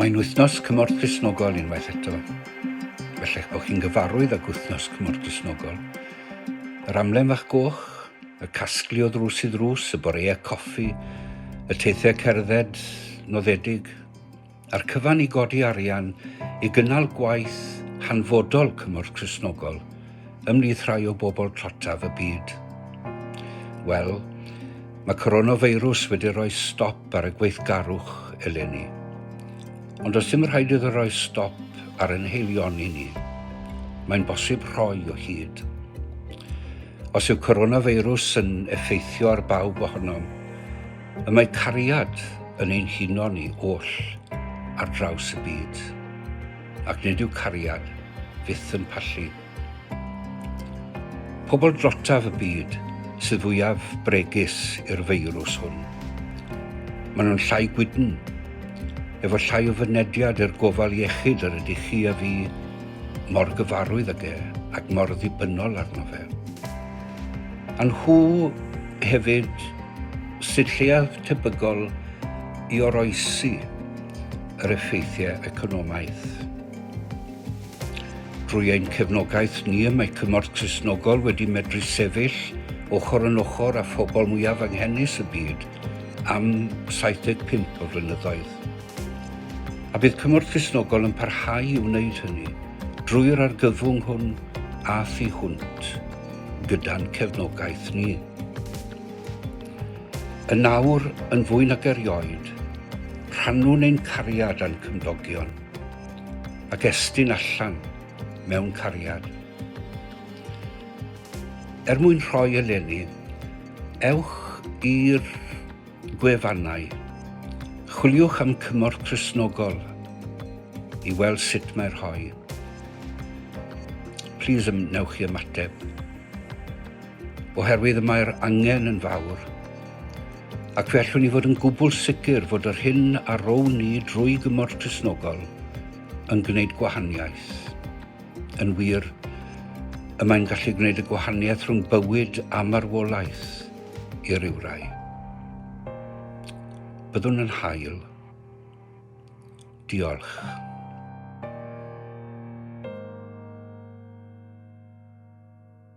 Mae'n Wythnos Cymorth Gristnogol unwaith eto. Felly eich bod chi'n gyfarwydd ag Wythnos Cymorth Gristnogol. Yr amlen fach goch, y casglu o ddrws i ddrws, y boreau coffi, y teithiau cerdded noddedig, a'r cyfan i godi arian i gynnal gwaith hanfodol cymorth Cristnogol ymhlith rhai o bobl tlotaf y byd? Wel, mae coronafeirws wedi rhoi stop ar y gweithgarwch eleni. Ond does dim rhaid iddo roi stop ar ein heilioni ni. Mae'n bosib rhoi o hyd. Os yw coronafeirws yn effeithio ar bawb ohonom, y mae cariad yn ein huno ni oll ar draws y byd. Ac nid yw cariad fyth yn pallu. Pobl drotaf y byd sydd fwyaf bregus i'r feirws hwn. Maen nhw'n llai gwydn, efo llai o fynediad i'r gofal iechyd yr ydych chi a fi mor gyfarwydd ag e ac mor ddibynnol arno fe. A nhw hefyd sydd lleiaf tebygol i oroesi yr effeithiau economaidd. Drwy ein cefnogaeth ni y mae Cymorth Cristnogol wedi medru sefyll ochr yn ochr â phobl mwyaf anghenus y byd am 75 o flynyddoedd. A bydd Cymorth Cristnogol yn parhau i wneud hynny drwy'r argyfwng hwn a thu hwnt gyda'n cefnogaeth ni. Yn awr, yn fwy nag erioed, rhannwn ein cariad â'n cymdogion, ac estyn allan mewn cariad. Er mwyn rhoi eleni, ewch i'r gwefannau, chwiliwch am Cymorth Cristnogol i weld sut mae rhoi. Plis ymwnewch i ymateb. oherwydd y mae'r angen yn fawr, ac fe allwn ni fod yn gwbl sicr fod yr hyn a rown ni drwy gymorth Cristnogol yn gwneud gwahaniaeth. Yn wir, y mae'n gallu gwneud y gwahaniaeth rhwng bywyd a marwolaeth i ryw rai. Byddwn yn hael. Diolch.